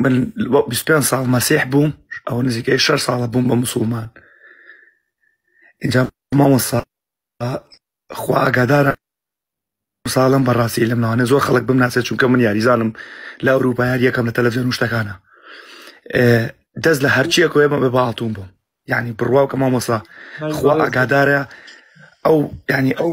من پێ ساڵ مەسیح بووم ئەو نزیکەی شەر ساڵە بووم بە مسلمان اینجا مامۆسا خوا ئاگادارە ساڵم بەڕاستی لەم ناوانە زۆر خەڵک بم ناسێت چونکە من یاریزانم لە ئەوروپا یار یەکەم لە تەلەڤزیۆن شتەکانە دەست لە هەرچیە کۆێ بە باڵتون بووم ینی بڕواو کە مامۆسا خوا ئاگادارە ئەو ینی ئەو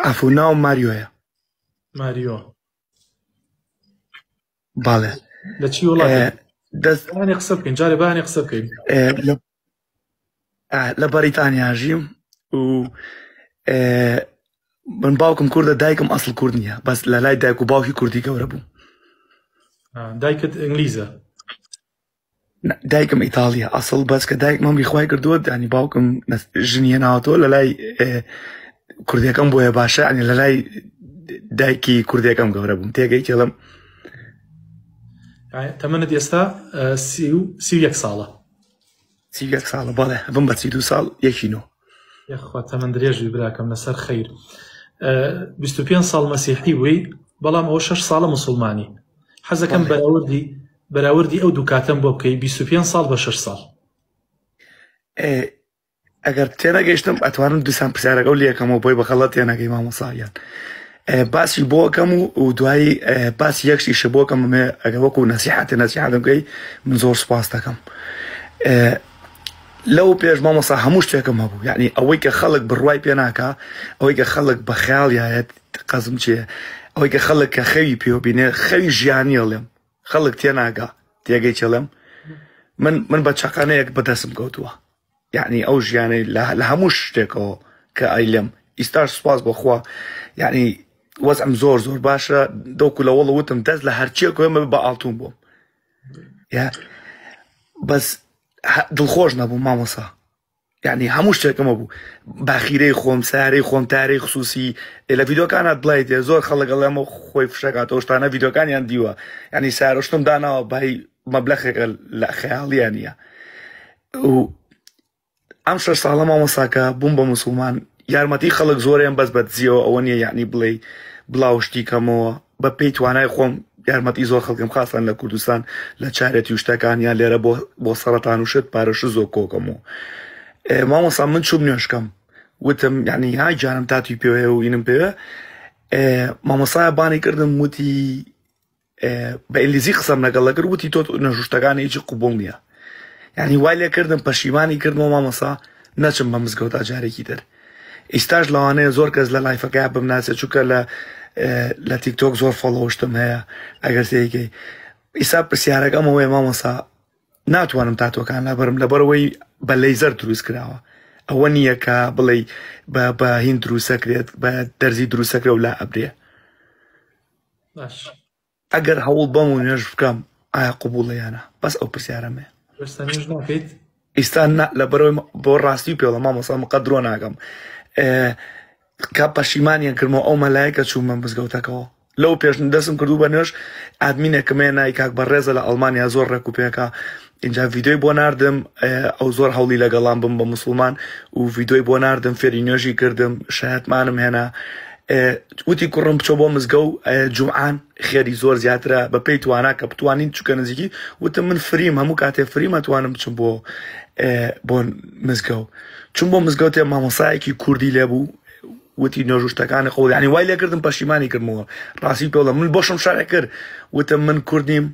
ئافو ناو ماریۆیە ماریۆ باڵێ لە چی وڵات دەستانی قسە بکەین جارێ بانی قسە بکەین لە بەریتانیا ژیم و من باوکم کوردە دایکم ئەسڵ کورد نیە بەس لە لای دایک و باوکی کوردی گەورە بوو دایکت ئینگلیزە دایکم ئیتاڵیە ئەسڵ بەس کە دایک مەمری خخوای کردووە دانی باوکم ژنیە ناوەوە لە لای کوردەکەم بۆیە باشە ئەنی لە لای دایکی کوردەکەم گەورە بووم تێگەی تێڵم تەمەنت ئێستا سی یەک ساڵە سی یەک ساڵە بەڵێ بم بە سی دو ساڵ یەکینۆ یخوا تەمەند درێژی براکەم لەسەر خیر 25 ساڵ مەسیحی بووی بەڵام ئەو 6 ساڵە مسلمانی حەزەکەم بەراوردی بەراوردی ئەو دوو کاتەم بۆ بکەی بیست و پێنج ساڵ بە شەش ساڵ. ئەگەر تێنەگەیشتم ئەتوانم دوسان پرسیارەکە و لەکەمەوە بۆی بەخەڵەت تێنەگەی مامۆساگیان باسی بۆکەم و دوایی باسی یەکشیشە بۆکەم مێ ئەگە وەکو نەسیحاتێ نەسیحاتەکەی من زۆر سپاس دەکەم لەو پێش مامۆسا هەموو شتێکم هەبوو یعنی ئەوەی کە خەڵک بڕوای پێ ناکە ئەوەی کە خەڵک بە خیاڵیایەت قەزم چێ ئەوەی کە خەڵک کە خەوی پێوە بینێ خەوی ژیانی هەڵێم خەڵک تێناگا تێگەی چڵم من من بە چقانەیەک بەدەستم کەوتووە یعنی ئەو ژیانەی لە هەموو شتێکەوە کە ئایلم ئیستاش سوپاس بەخوا یعنی وەزم زۆر زۆر باشە دەوکو لە وەڵ وتم دەست لە هەرچیە کوێمە بە ئاڵتون بووم بەس دڵخۆش نەبوو مامۆسا یعنی هەموو شتێکمە بوو باخیرەی خۆم سارەی خۆم تارەی خصوصی لە ڤیدۆکانە بڵیت زۆر خەڵک ئەڵێمە خۆی فشەکاتەوە شتانە ڤیدۆکانیان دیوە ینی سارشتم داناوە بای مەبلەخێکە لە خەیاڵیان نیە ئەم شەش ساڵە مامەساکە بووم بە مسلمان یارمەتی خەڵک زۆریان بەس بەدزیەوە ئەوە نیە یعنی بڵێ بڵاوشتی کەمەوە بە پێی توانای خۆم یارمەتی زۆر خەڵکم خاستان لە کوردستان لە چارەتی و شتەکان یان لێرە بۆ بۆ سەرەتان و شت پارەش زۆر کۆکەم و مامۆسا من چوم نوێشکەم وتم یعنی ها جانم تاتی پێوەیە و ئینم پێوە مامۆسای بانی کردم وتی بە ئینگلیزی قسەم لەگەڵ لەگەر وتی تۆ نەژوشتەکان هیچ قوبڵ نییە یعنی وای لێ کردم پەشیمانی کردمەوە مامۆسا نەچم بە مزگەوتا جارێکی تر ئیستاش لەوانەیە زۆر کەس لە لایفەکەیا بمناسێت چونکە لە لە تیکتۆک زۆر فۆڵۆشتم هەیە ئەگەر سێگەی ئیسا پرسیارەکە ئەمەوەی مامەسا ناتوانم تاتۆکان لابرم لەبەرەوەی بە لەیزەر دروست کراوە ئەوە نییە کە بڵێ بە بە هین دروسەکرێت بە دەرزی دروسەکرە و لا ئەبرێ باش ئەگەر هەوڵ بەم و نوێژ بکەم ئایا قبوڵە یان نا بەس ئەو پرسیارەم هەیە. ئێستا نوێژ ناکەیت؟ ئیستا نا لەبەرەوەی بۆ ڕاستی پێڵە مامۆسا مقە درۆ ناگەم کە پەشیمانیان کردمەوە ئەو مەلایکە چوومە مزگەوتەکەەوە لەو پێش دەسم کردو بە نوێش ئادمینێکمەیە نای کاک بە ڕێزە لە ئەڵمانیا زۆر ڕێک و پێکا ئینجا ڤیدۆی بۆ ناردم ئەو زۆر هەوڵی لەگەڵام بم بە مسلمان و ڤیدۆی بۆ ناردم فێری نوێژی کردم شایەتمانم هێنا وتی کوڕم بچۆ بۆ مزگە و جوعان خێری زۆر زیاترە بە پێی توانا کە بتوانین چکە نزیکی وتم من فریم هەموو کاتێ فریمە توانم بچم بۆ بۆ مزگە و چون بۆ مزگەوتێ مامۆسایەکی کوردی لێ بوو وتی نۆژوشتەکانی قوڵیانی وای لێکردم پەشیمانی کردمەوە ڕاستی پێڵە من بۆشم شارە کرد وتم من کوردیم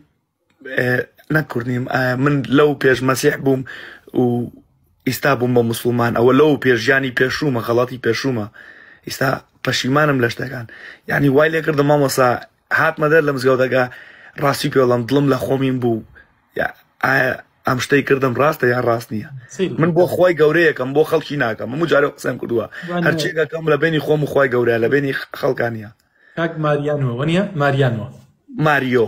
نەک کورد نیم من لەو پێش مەسیح بووم و ئیستا بووم بە مسلمان ئەوە لەو پێش ژیانی پێشوومە غەڵاتی پێشوومە ئیستا پەشیمانم لە شتەکان یعنی وای لێ کردم مامۆسا هاتمە دەر لە مزگەوتەکە ڕاستی پێڵم دڵم لە خۆمین بوو ئەم شتەی کردم ڕاستە یا ڕاست نییە من بۆ خۆی گەورەیەکەم بۆ خەڵکی ناکەم من جارە قسەم کردووە هەرچێکەکەم لە بینی خۆم خۆی گەورە لە بینی خەڵکانە کاک ماریانەوە نیە ماریانەوە ماریۆ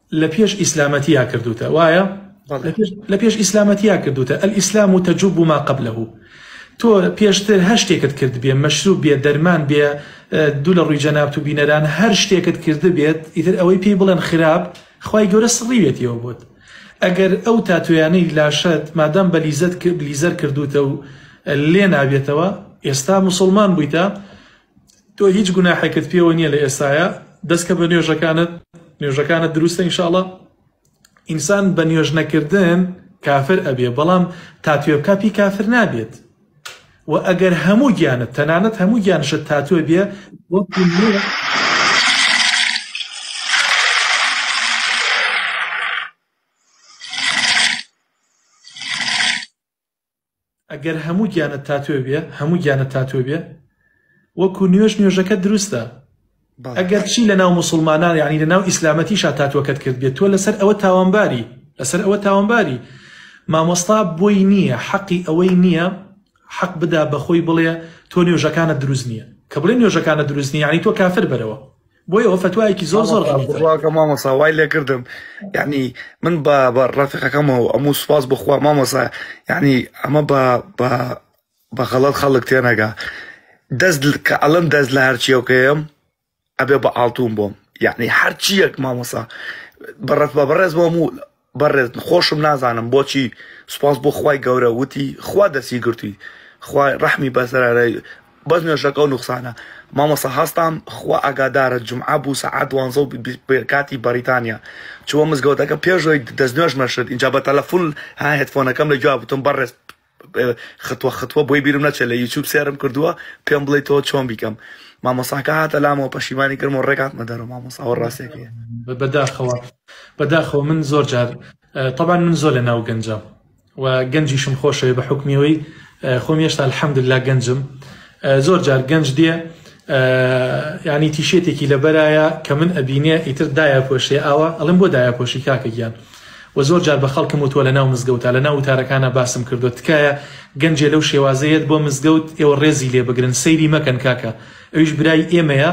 لە پێش ئیسلامەتیا کردوتە وایە لە پێش ئیسلامەتیا کردوتە ئەلئیسلام و تەجوب ما قبله تۆ پێشتر هەر شتێکت کرد بێ مەشروب بێ دەرمان بێ دوو لە ڕووی جەنابت و بینەران هەر شتێکت کرد بێت ئیتر ئەوەی پێی بڵێن خراپ خی گەورە سڕیوێتیەوە بوت ئەگەر ئەو تاتویانەی لاشت مادەم بە لیزت لیزەر کردوتە و لێ نابێتەوە ئێستا مسلمان بوویتە تۆ هیچ گوناحێکت پێوە نیە لە ئێستایا دەست کە بە نوێژەکانت نوێژەکانت دروستە ئینشاڵە ئینسان بە نوێژ نەکردن کافر ئەبێ بەڵام تاتوێ بکە پی کافر نابێت و ئەگەر هەموو گیانت تەنانەت هەموو گیانشت تاتوێ بێ ئەگەر هەموو گیانت تاتوێ بێ هەموو گیانت تاتوێ بێ وەکو نوێژ نوێژەکە دروستە ئەگەر چی لە ناو مسلمانان یعنی لە ناو ئیسلامەتی شا تاتوەکەت کرد بێت تۆ لەسەر ئەوە تاوانباری لەسەر ئەوە تاوانباری مامۆستا بۆی نییە حەقی ئەوەی نییە حەق بدا بەخۆی بڵێ تۆ نوێژەکانە دروست نییە کە بڵێ نوێژەکانە دروست نییە یعنی تۆ کافر بەرەوە بۆ ئەوە فتوایەکی زۆر زۆر غەڵیتە مامۆسا وای لێ کردم یعنی من بە بە ڕەفیقەکەمەوە ئەموو سوپاس بخوا مامۆسا یعنی ئەمە بە بە بە غەڵەت خەڵک تێنەگا دەست کە ئەڵم دەست لە هەرچیەکەم ئەبێ بە ئاڵتون بۆم یعنی هەرچیەک مامۆسا بەڕەت بە بەڕێز بۆم و بەڕێز خۆشم نازانم بۆچی سوپاس بۆ خوای گەورە وتی خوا دەستی گرتوی خوا ڕەحمی بەسەرە بەس نوێژەکەو نوخسانە مامۆسا هەستام خوا ئاگادارە جمعە بوو سەعات دوانزە و کاتی بەریتانیا چووە مزگەوتەکە پێشەوەی دەستنوێژمە شت ئینجا بە تەلەفون ها هێدفۆنەکەم لە گوێیا وتم بەڕێز ختوە ختوە بۆی بیرم نەچێت لە یوتوب سێرم کردووە پێم بڵێ تۆ چۆن بیکەم مامۆساکە هاتە لامەوە پەشیمانی کرم و ڕێک هاتمە دەرەوە مامۆساوە ڕاستێکی بەداخەوە بەداخەوە من زۆر جار طبعاان من زۆر لە ناو گەنجام و گەنجیشم خۆشەوێ بە حکمیەوەی خۆم هێشتا الحەمد لا گەنجم زۆر جار گەنج دێ ینی تیشێتێکی لەبەرایە کە من ئەبینێ ئیتر دایە پۆشێ ئاوا ئەڵم بۆ دایە پۆشی کاکە گیان وە زۆر جار بە خەڵکم وتوە لە ناو مزگەوتا لە ناو وتارەکانا باسم کردوە تکایە گەنجێ لەو شێوازە یەت بۆ مزگەوت ئێوە ڕێزی لێ بگرن سەیری مەکەن کاکە ئەویش برای ئێمەیە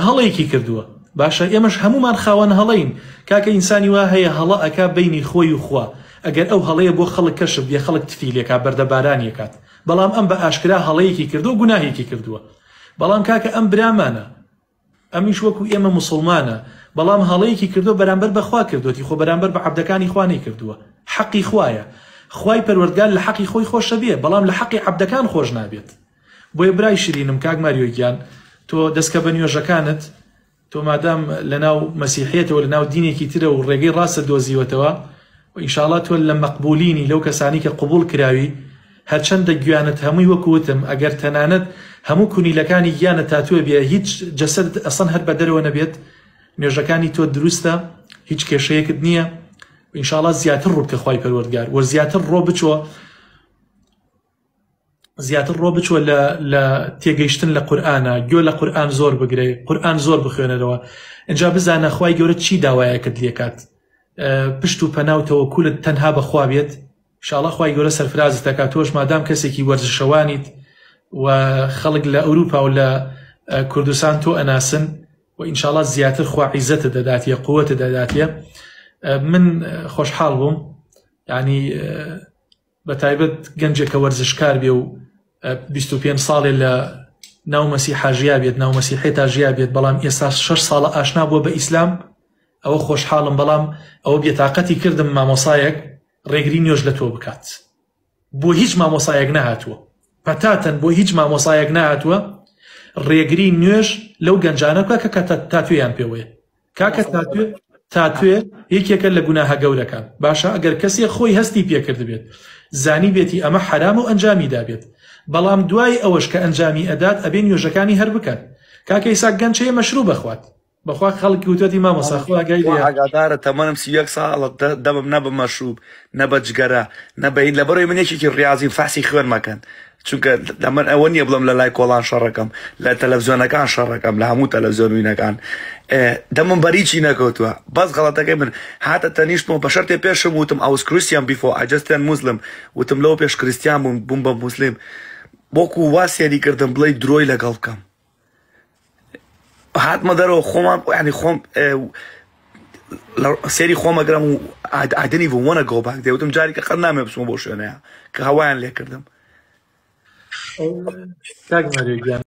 هەڵەیەکی کردوە باشە ئێمەش هەمومان خاوەن هەڵەین کاکە ئینسانی وا هەیە هەڵە ئەکا بینی خۆی و خوا ئەگەر ئەو هەڵەیە بۆ خەڵک کەشف بێ خەڵک تفی لێکا بەردە بارانی ئەکات بەڵام ئەم بە ئاشکرا هەڵەیەکی کردوە گوناهێکی کردوە بەڵام کاکە ئەم برامانە ئەمیش وەکو ئێمە موسڵمانە بەڵام هەڵەیەکی کردوە بەرامبەر بە خوا کردوەتی خۆ بەرامبەر بە عەبدەکانی خوا نەیکردوە حەقی خوایە خوای پەروەردگار لە حەقی خۆی خۆشەبێ بەڵام لە حەقی عەبدەکان خۆش نابێت بۆیە برای شرینم کاک ماریۆ گیان تۆ دەسکە بە نوێژەکانت تۆ مادام لە ناو مەسیحێتەوە لە ناو دینێکی ترە و ڕێگەی ڕاستە دۆزیوەتەوە و ئینشاءاللە تۆ لە مەقبولینی لەو کەسانی کە قبول کراوی هەرچەندە گویانت هەمووی وەکو وتم ئەگەر تەنانەت هەموو کونیلەکانی گیانت تاتوێ بێ هیچ جەسەدت ئەسڵەن هەر بەدەرەوە نەبێت نوێژەکانی تۆ دروستە هیچ کێشەیەکت نییە ئینشاڵا زیاتر ڕووبکە خوای پەروەردگار وە زیاتر ڕۆ بچۆ زیاتر ڕۆ بچوە لە تێگەیشتن لە قورآانە گوێ لە قورآان زۆر بگرێ قورآان زۆر بخوێنەرەوە ئەجا بزانە خی گەورە چی داوایەکت لێکات پشت و پەناوتەوە کولت تەنها بەخوا بێت شاڵا خوای گەورە سەرفرازت ئەکا تۆش مادام کەسێکی وەرزشەوانیت و خەڵک لە ئەوروپا و لە کوردستان تۆ ئەناسن و ئینشاڵا زیاتر خوا عیزەتت دەداتیە قوتت دەداتیە من خۆشحاڵ بووم یعنی بە تایبەت گەنجێک کە وەرزشکار بێ و 25 ساڵێ لە ناو مەسیحا ژیا بێت ناو مەسیحێ تا ژیا بێت بەڵام ئێستا شش ساڵە ئاشنا بووە بە ئیسلام ئەوە خۆشحاڵم بەڵام ئەوە بێتاقەتی کردم مامۆسایەک ڕێگری نوێژ لە تۆ بکات بۆ هیچ مامۆسایەک نەهاتووە پەتاتەن بۆ هیچ مامۆسایەک نهاتووە ڕێگری نوێژ لەو گەنجانە بکە کە تاتوێیان پێوەیە کاکە تاتوێ تاتوێ یەکێکە لە گوناهە گەورەکان باشە ئەگەر کەسێ خۆی هەستی پێکرد بێت زانی بێتی ئەمە حرام و ئەنجامی دابێت بەڵام دوای ئەوەش کە ئەنجامی ئەدات ئەبێ نوێژەکانی هەر بکات کاکەیسا گەنچەیە مەشروع بخوات بەخوا خەڵکی وتۆتی مامۆستا خوا ئاگای خوا لێیە. ئاگادارە تەمەنم سی و یەک ساڵە دە دەمم نە بە مەشروب نە بە جگەرە نە بە هیچ لەبەرەوەی من یەکێکی ڕیازیم فەحسی خوێن مەکەن چونکە لە من ئەوە نییە بڵێم لە لای کۆڵان شەڕەکەم لە تەلەفزیۆنەکان شەڕەکەم لە هەموو تەلەفزیۆن و وینەکان ئێ، دەمم بەر هیچی نەکەوتووە بەس غەڵەتەکەی من هاتە تەنیشتمەوە بە شەرتێ پێشم وتم ئاوس کریستیان بیفۆ ئای جەست تێرن موسلم وتم لەوە پێش کریستیان بووم بووم بە موسلیم وەکوو وا سێری کردم بڵێی درۆی لەگەڵ بکەم. هاتمە دەرەوە خۆمان ینی خۆم سێری خۆمەگرم و ئادنی بوو وەە گۆباک دەوتم جارێکە قەر نامێ بچمە بۆ شوێنەیە کە هەوایان لێکردم